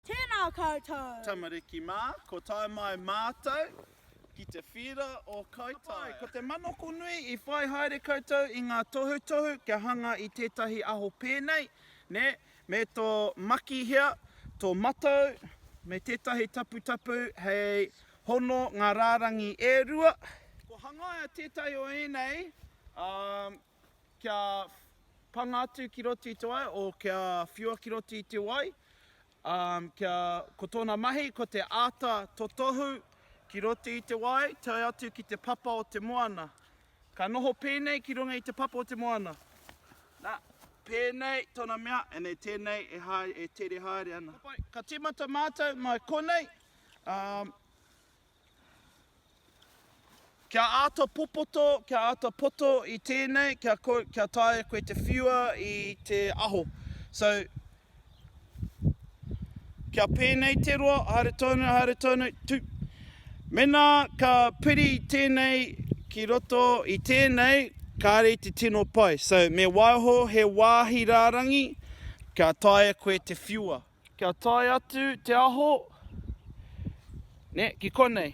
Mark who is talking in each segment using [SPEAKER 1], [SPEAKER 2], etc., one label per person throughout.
[SPEAKER 1] Tēnā koutou! Tamariki mā,
[SPEAKER 2] ko tae mai mātou ki te whīra o Kaitaia. Ko te manoko nui i whai haere koutou i ngā tohutohu kia hanga i tētahi aho pēnei, nē, me tō makihea, tō matou, me tētahi taputapu hei hono ngā rārangi e rua. Kua hangaia tētahi o ēnei, ā, kia panga atu ki roto i te wai, o kia whiua ki roto i te wai, um, kia, ko tōna mahi, ko te āta totohu ki roto i te wai, tae atu ki te papa o te moana. Ka noho pēnei ki runga i te papa o te moana. Nā, pēnei tōna mea, and e tēnei e, haere, e tere haere ana. Ka tīmata mātou mai konei, um, Kia āta popoto, kia āta poto i tēnei, kia, kia taea koe te whiua i te aho. So, kia pēnei te roa, haere tonu, haere tonu, tu. Mena ka piri tēnei ki roto i tēnei, kāre te tino pai. So, me waiho he wāhi rārangi, kia taea koe te whiua. Kia tae atu te aho, ne, ki konei.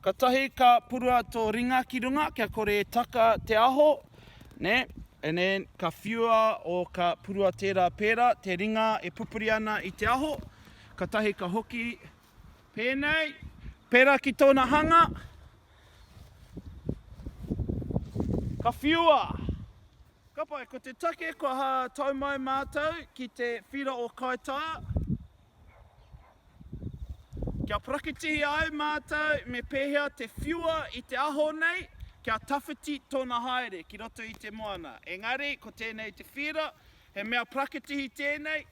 [SPEAKER 2] Katahi ka purua to ringa ki runga kia kore e taka te aho, ne, and then ka whiua o ka purua tera pera te ringa e pupuri ana i te aho, katahi ka hoki penei, pera ki tona hanga, ka whiua! Ka pai, ko te take kua ha tau mai mātou ki te whira o Kaitā, kia prakitihia ai mātou me pēhea te whiua i te aho nei kia tawhiti tōna haere ki roto i te moana. Engari, ko tēnei te whira, he mea prakitihi tēnei,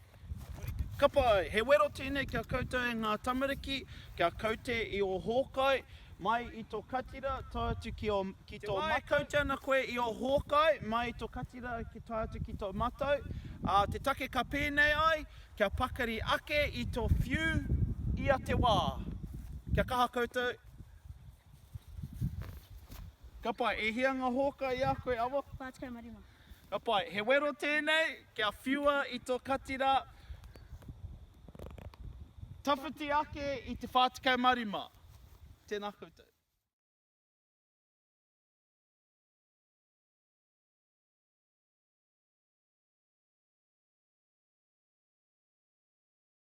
[SPEAKER 2] Kapa ai, he wero tēnei kia koutou e ngā tamariki, kia kaute i ō hōkai, mai i tō katira tae atu ki ō, ki tō matau. Te wā e kaute ana koe i ō hōkai, mai i tō katira ki tae atu ki tō matau, ā, te take ka pēnei ai, kia pakari ake i tō whiu ia te wā. Kia kaha koutou. Kapa, e hia ngā hōkai i a koe, Awa? Whā tekau ma rima.
[SPEAKER 1] Ka pai, he
[SPEAKER 2] wero tēnei kia whiua i tō katira tawhiti ake i te 45. Tēnā koutou.